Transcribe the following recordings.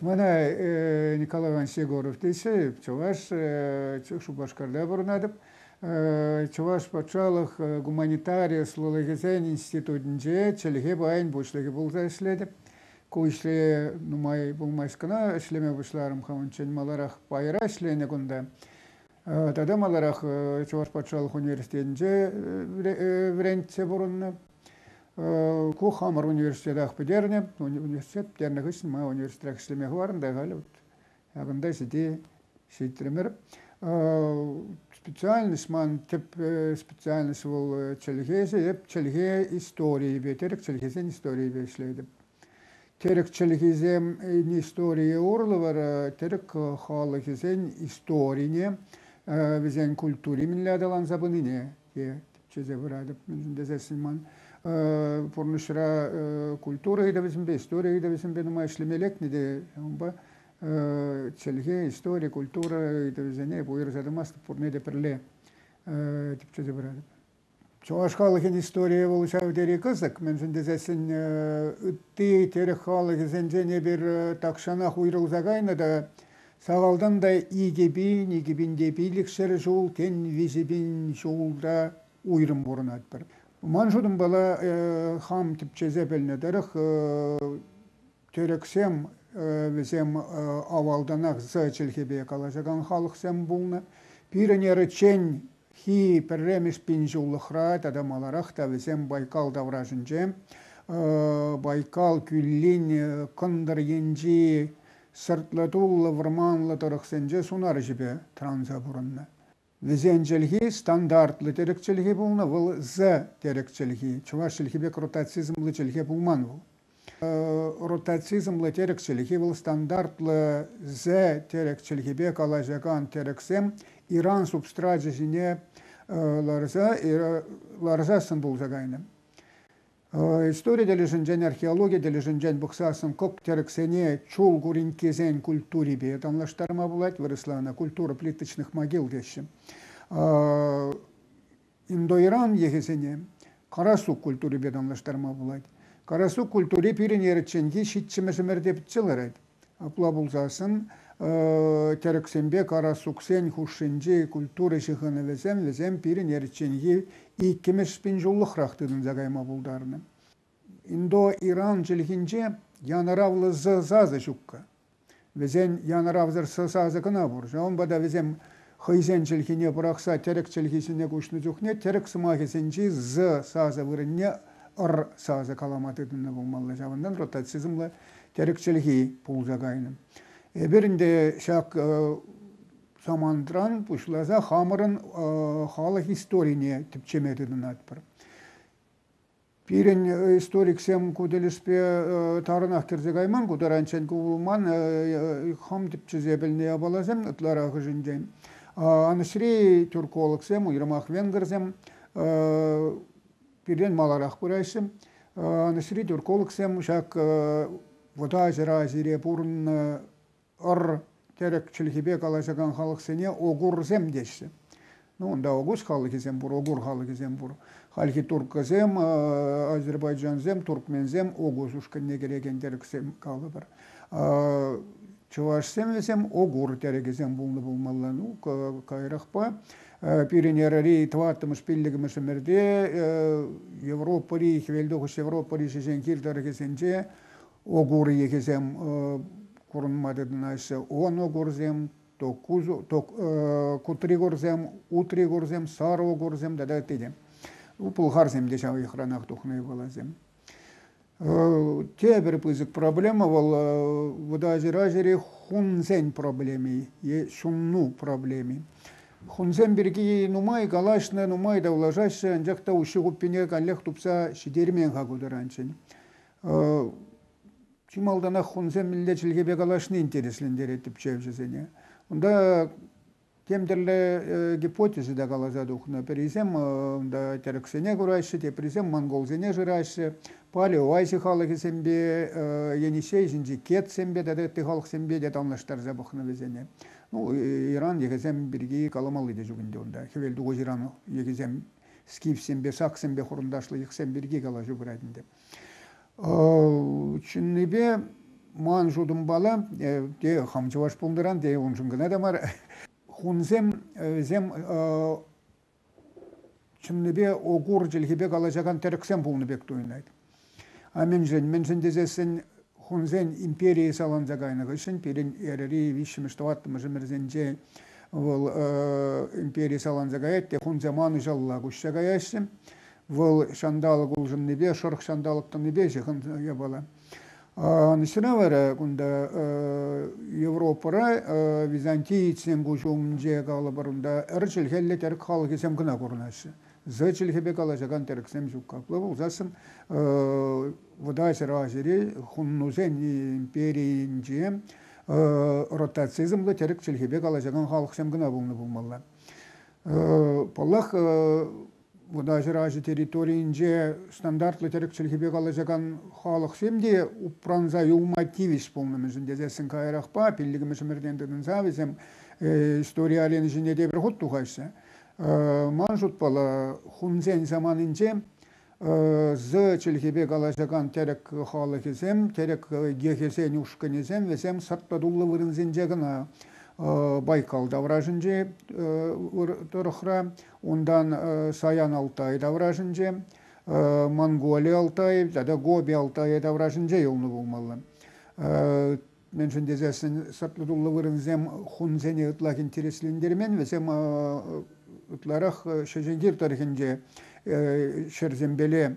Мана Николай Иванович Егоров тесе Чӑваш Шупашкарта пурӑнатӑп. Чӑваш патшалӑх гуманитари ӑслӑлӑхӗсен институтӗнче чӗлхе пайӗн пуҫлӑхӗ пулса ӗҫлетӗп. Ку ӗҫре нумай пулмасть кӑна ӗҫлеме пуҫларӑм хам унччен маларах пайра ӗҫленӗ кунта. Тата маларах Чӑваш патшалӑх университетӗнче вӗрентсе пурӑннӑ. Ку хамӑр университетах пӗтернӗ. Университет пӗтернӗ хыҫҫӑн ман университетра ӗҫлеме хӑварнӑ та халӗ вот ҫакӑнта ҫити ҫитрӗмӗр. Специальность ман тӗп специальность вӑл чӗлхеҫӗ. Эп чӗлхе историйӗпе, тӗрӗк чӗлхисен историйӗпе ӗҫлетӗп. Тӗрӗк чӗлхисен историйӗ урлӑ вара тӗрӗк халӑхӗсен историне, вӗсен культури мӗнле аталанса пынине те тӗпчесе пыратӑп, мӗншӗн тесессӗн ман пурнӑҫра культура ыйтӑвӗсемпе, истори ыйтӑвӗсемпе нумай ӗҫлеме лекнӗ те унпа чӗлхе, истори, культура ыйтӑвӗсене уйӑрса тӑмастӑп, пурне те пӗрле тӗпчесе пыратӑп. Чӑваш халӑхӗн историйӗ вӑл ҫав тери кӑсӑк, мӗншӗн тесессӗн ытти тӗрӗк халӑхӗсенчен эпир тахҫанах уйрӑлса кайнӑ та Сахалтан та икӗ пин, икӗ пин те пилӗкшер ҫул, тен, виҫӗ пин ҫулта уйрӑм пурӑнатпӑр. Ман шутӑмпала э, хам тӗпчесе пӗлнӗ тӑрӑх э, тӗрӗксем э, вӗсем авалтанах з чӗлхепе калаҫакан халӑхсем пулнӑ. Пирӗн эрӗчченхи пӗрремӗш пин ҫуллӑхра тата маларах та вӗсем Байкал таврашӗнче Байкал кӳллин кӑнтӑр енчи сӑртлӑ-туллӑ вӑрманлӑ тӑрӑхсенче сунар ӗҫӗпе тӑранса пурӑннӑ. Вӗсен чӗлхи стандартлӑ терек чӗлхи пулнӑ, вӑл The терек чӗлхи, чӑваш чӗлхи пек ротацизмлӑ чӗлхе пулман вӑл. Ротацизмлӑ терек чӗлхи вӑл стандартлӑ The терек чӗлхипе калаҫакан терексем Иран субстрачӗ ҫине ларса ларсассӑн пулса кайнӑ. Истори тӗлӗшӗнчен, археологи тӗлӗшӗнчен пӑхсассӑн кӑк-тӗрӗксене чул куринккесен культурипе танлаштарма пулать вырӑсла ӑна культура плиточных могил теҫҫӗ. Индоиран йӑхӗсене карасук культурипе танлаштарма пулать. Карасук культури пирӗн ерӗчченхи ҫиччӗмӗш ӗмӗрте пӗтсе ларать. Апла пулсассӑн тӗрӗксемпе карасуксен хушшинчи культура ҫыхӑнӑвӗсем вӗсем пирӗн еричченхи иккӗмӗш пин ҫуллӑхрах тытӑнса кайма пултарнӑ. Индо-Иран чӗлхинче янӑравлӑ з сасӑ ҫуккӑ. Вӗсен янӑравсӑр с сасӑ кӑна пур. Ҫавӑнпа та вӗсем хӑйсен чӗлхине пӑрахса тӗрӗк чӗлхисене куҫнӑ чухне тӗрӗк сӑмахӗсенчи з сасӑ вырӑнне р сасӑ калама тытӑннӑ пулмалла. Ҫавӑнтан ротацизмла тӗрӗк чӗлхи пулса кайнӑ. Эпир ӗнтӗ ҫак самантран пуҫласа хамӑрӑн халӑх историне тӗпчеме тытӑнатпӑр. Пирӗн историксем ку тӗлӗшпе тарӑнах кӗрсе кайман ку таранччен. Ку ман хам тӗпчесе пӗлнӗ япаласем ытларахӑшӗнчен. Анӑҫри тюркологсем, уйрӑмах венгрсем пиртен маларах пыраҫҫӗ. Анӑҫри тюркологсем ҫак вӑта ҫӑра ҫире пурӑннӑ ӑр-тӗрӗк чӗлхипе калаҫакан халӑхсене огурсем теҫҫӗ. Ну, унта огуз халӑхӗсем пур, огур халӑхӗсем пур. Хальхи турккӑсем, азербайджансем, туркменсем огуз ушкӑнне кӗрекен тӗрӗксем калӑпӑр. Чӑвашсем вӗсем огур тӗрӗкӗсем пулнӑ пулмалла. Ну, каярахпа пирӗн эрӗри тӑваттӑмӗш пиллӗкмӗш ӗмӗрте Европӑри, хӗвелтухӑҫ Европӑри шӗшен кил тӑрӑхӗсенче Огур йӑхӗсем курӑнма тытӑнаҫҫӗ. Оногурсем, кутригурсем, утригурсем, сарогурсем тата ытти те. Пӑлхарсем те ҫав йӑхранах тухнӑ ывӑласем. Тепӗр пысӑк проблема вӑл вӑтаҫыра ҫӗре хунсен проблеми е ҫунну проблеми. Хунсем пирки нумай калаҫнӑ, нумай тавлашаҫҫӗ, анчах та уҫҫи хуппине каллех тупса ҫитермен-ха ку таранччен. Чи малтанах хунсем мӗнле чӗлхепе калаҫни интереслентерет тӗпчевҫӗсене. Унта тем тӗрлӗ гипотези та каласа тухнӑ. Пӗрисем унта тӗрӗксене кураҫҫӗ, теприсем монголсене шыраҫҫӗ. Палеоваҫи халӑхӗсемпе, Енисей ҫинчи кетсемпе тата ытти халӑхсемпе те танлаштарса пӑхнӑ вӗсене. Ну, Иран йӑхӗсем пирки каламалли те ҫук ӗнтӗ унта. Хӗвел тухӑҫ Иран йӑхӗсем скифсемпе, саксемпе хурӑнташлӑ йӑхсем пирки калаҫу пырать ӗнтӗ. Чӑннипе ман шутӑмпала те хам чӑваш пулнӑран те уншӑн кӑна та мар хунсем вӗсем чӑннипе огур чӗлхипе калаҫакан тӗрӗксем пулнӑ пек туйӑнать. А мӗншӗн? Мӗншӗн тесессӗн хунсен империйӗ саланса кайнӑ хыҫҫӑн пирӗн эрӗри виҫҫӗмӗш-тӑваттӑмӗш ӗмӗрсенче вӑл импери саланса каять те хунсем анӑҫалла куҫса каяҫҫӗ. Вӑл ҫанталӑк улшӑннипе, шӑрӑх ҫанталӑк тӑнипе ҫыхӑннӑ япала. Ӑнӑҫра вара кунта Европӑра византиецсен куҫӗ умӗнче калӑпӑр унта ӗр чӗлхеллӗ тӗрӗк халӑхӗсем кӑна курӑнаҫҫӗ. З чӗлхепе калаҫакан тӗрӗксем ҫук. Апла пулсассӑн Вӑтаҫӗр Азири хуннусен империйӗнче ротацизмлӑ тӗрӗк чӗлхепе калаҫакан халӑхсем кӑна пулнӑ пулмалла. Паллах, вӑтаҫӗр аҫӑ территорийӗнче стандартлӑ тӗрӗк чӗлхипе калаҫакан халӑхсем те упранса юлма тивӗҫ пулнӑ мӗншӗн тесессӗн каярахпа пиллӗкмӗш ӗмӗртен тытӑнса вӗсем истори арены ҫине те пӗр хут тухаҫҫӗ. Ман шутпала хунсен саманинче з чӗлхипе калаҫакан тӗрӗк халӑхӗсем, тӗрӗк гехӗсен ушкӑнӗсем вӗсем сӑрт-тӑтуллӑ вырӑнсенче кӑна Байкал таврашӗнче тӑрӑхра Унтан Саян Алтай таврашӗнче, Монголи Алтаев тата Гоби Алтая таврашӗнче юлнӑ пулмалла. Мӗншӗн тесессӗн саплутуллӑ вырӑнсем хунсене ытлах интереслентермен, вӗсем ытларах Шӗшентир тӑрӑхӗнче ҫӗрсемпеле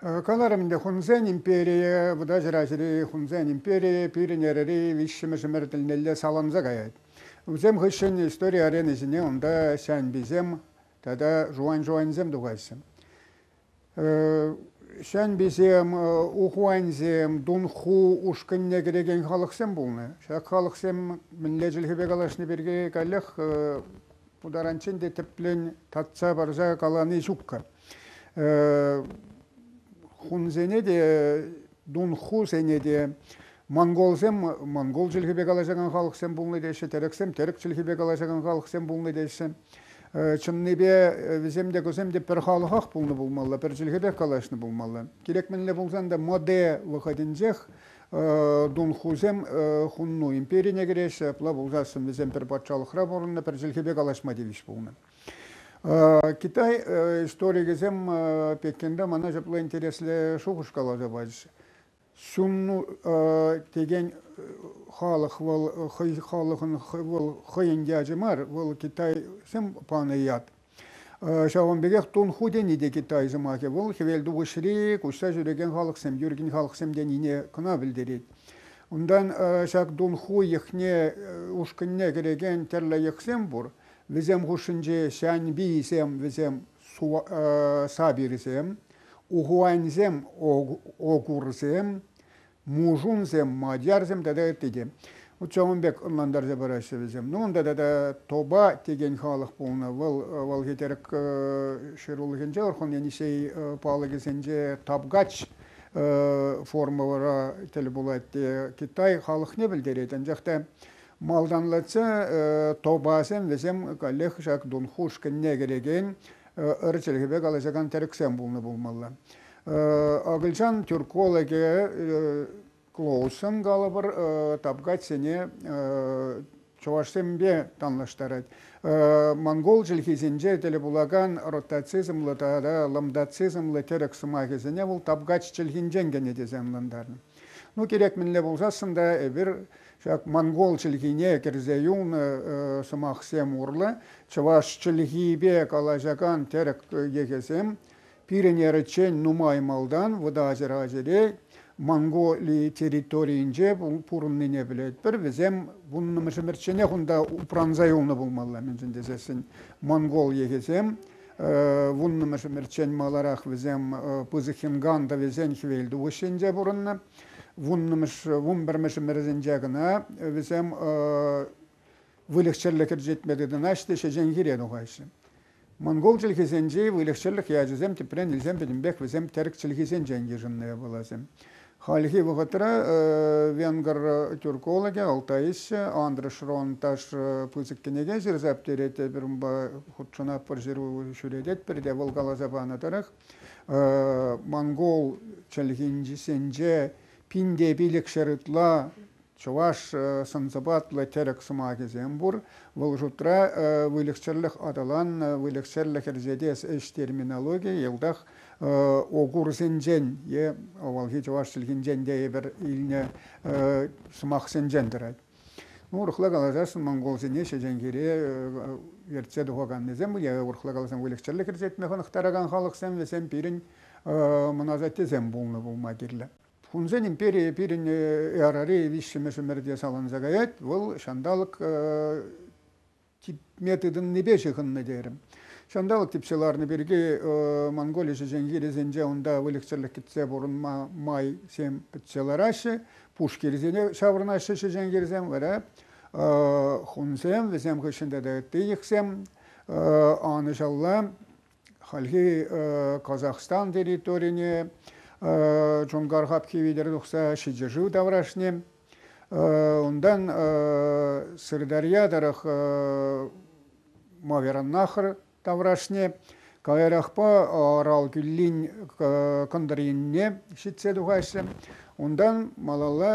Каларӑм ӗнтӗ хунсен империйӗ, Вӑта чӑрачӑри хунсен империйӗ пирӗн эрӗри виҫҫӗмӗш ӗмӗр тӗлнелле саланса каять. Вӗсем хыҫҫӑн истори арени ҫине унта ҫанписем тата жуан-жуансем тухаҫҫӗ. Ҫанписем, ухуансем, дунху ушкӑнне кӗрекен халӑхсем пулнӑ. Ҫак халӑхсем мӗнле чӗлхепе калаҫни пирки каллех ку таранччен те тӗплӗн татса парса калани ҫукка. Хунсене те, дунхусене те монголсем монгол чӗлхипе калаҫакан халӑхсем пулнӑ теҫҫӗ, тӗрӗксем тӗрӗк чӗлхипе калаҫакан халӑхсем пулнӑ теҫҫӗ. Чӑннипе вӗсем те кусем те пӗр халӑхах пулнӑ пулмалла, пӗр чӗлхепех калаҫнӑ пулмалла. Кирек мӗнле пулсан та моде вӑхӑтӗнчех дунхусем хунну империне кӗреҫҫӗ, апла пулсассӑн вӗсем пӗр патшалӑхра пурӑннӑ, пӗр чӗлхепе калаҫма тивӗҫ пулнӑ. Китай историкӗсем пеккенре мана ҫапла интереслӗ шухӑш каласа пачӗҫ. Сунну текен халӑх вӑл хӑй халӑхӑн вӑл хӑйӗн ячӗ мар, вӑл китайсем панӑ ят. Ҫавӑн пекех Тун Ху тени те китай сӑмахӗ. Вӑл хӗвел тухӑҫри куҫса ҫӳрекен халӑхсем, ӳркен халӑхсем тенине кӑна пӗлтерет. Унтан ҫак Тун Ху йӑхне ушкӑнне кӗрекен тӗрлӗ йӑхсем пур. Вӗсем хушшинче ҫанпийсем вӗсем сабирсем, ухуаньсем огурсем, мужунсем, мадьярсем тата ытти те. Вот ҫавӑн пек ӑнлантарса параҫҫӗ вӗсем. Ну унта тата тоба текен халӑх пулнӑ. Вӑл вӑл Хӗтерк ҫырулӑхӗнче Орхон Енисей палӑкӗсенче тапгач формӑра тӗл пулать те Китай халӑхне пӗлтерет. Анчах та Малтанлатса тобасем вӗсем каллех ҫак Дунхуш кӗнне кӗрекен ыр чӗлхепе калаҫакан тӗрӗксем пулнӑ пулмалла. Акӑлчан тюркологӗ Клоуссен калӑпӑр тапкатсене чӑвашсемпе танлаштарать. Монгол чӗлхисенче тӗл пулакан ротацизмлӑ тата лымдацизмлӑ тӗрӗк сӑмахӗсене вӑл тапкач чӗлхинчен кӗнӗ тесе ӑнлантарнӑ. Ну, кирек мӗнле пулсассӑн та эпир Ҫак монгол чӗлхине кӗрсе юлнӑ сӑмахсем урлӑ чӑваш чӗлхипе калаҫакан тӗрӗк йӑхӗсем пирӗн эрӗччен нумай малтан вӑта ачӑра-ачӑре Монголи территорийӗнче пурӑннине пӗлетпӗр. Вӗсем вуннӑмӗшӗмӗрчченех унта упранса юлнӑ пулмалла, мӗншӗн тесессӗн монгол йӑхӗсем вуннӑмӗшӗмӗрччен маларах вӗсем пысӑк хӗнган тӑвӗсен хӗвелтухӑҫӗнче пурӑннӑ. вун пӗрмӗш ӗмӗрӗсенче кӑна вӗсем выльӑх-чӗрлӗх ӗрчетме тытӑнаҫҫӗ те ҫеҫенхире тухаҫҫӗ. Монгол чӗлхисенчи выльӑх-чӗрлӗх ячӗсем тӗпрен илсен пӗтӗмпех вӗсем терк чӗлхисенчен йышӑннӑ пуласем. Хальхи вӑхӑтра венгр тюркологӗ Алтаисчӗ Андрес Шронташ пысӑк кӗнеке ҫырса пӗтерет, эпир унпа хутшӑнатпӑр, ҫыру ҫӳрететпӗр те вӑл каласа панӑ тӑрӑх монгол чӗлхинчисенче пин те пилӗкҫӗр ытла чӑваш сӑн-сӑпатлӑ тӗрӗк сӑмахӗсем пур. Вӑл шутра выльӑхчӗрлӗх аталаннӑ, выльӑхсӗрлӗх ӗрчетес ӗҫ терминологийӗ йӑлтах огурсенчен е авалхи чӑваш чӗлхинчен те эпир илнӗ сӑмахсенчен тӑрать. Ну, урӑхла каласассӑн монголсене ҫӗтенкере ертсе тухаканнисем, я урӑхла каласан выльӑх-чӗрлӗх ӗрчетме хӑнӑхтаракан халӑхсем, вӗсем пирӗн мӑн асаттесем пулнӑ пулма кирлӗ. Хунсен империйӗ пирӗн эрари виҫҫӗмӗш ӗмӗрте саланса каять, вӑл ҫанталӑк типме тытӑннипе ҫыхӑннӑ терӗм. Ҫанталӑк типсе ларнӑ пирки Монголи ҫӗҫен хирӗсенче унта выльӑх-чӗрлӗх кӗтсе пурӑнма майсем пӗтсе лараҫҫӗ. Пуш хирӗсене ҫаврӑнаҫҫӗ ҫӗҫен хирсем, вара хунсем, вӗсем хыҫҫӑн тата ытти йӑхсем анӑҫалла Хальхи Казахстан территорине Чонгар хапхи витӗр тухса ҫичӗ таврашне. Унтан Сырдарья тӑрӑх Мавераннахр таврашне, каярахпа Арал кӳллин кӑнтӑр енне ҫитсе тухаҫҫӗ. Унтан малалла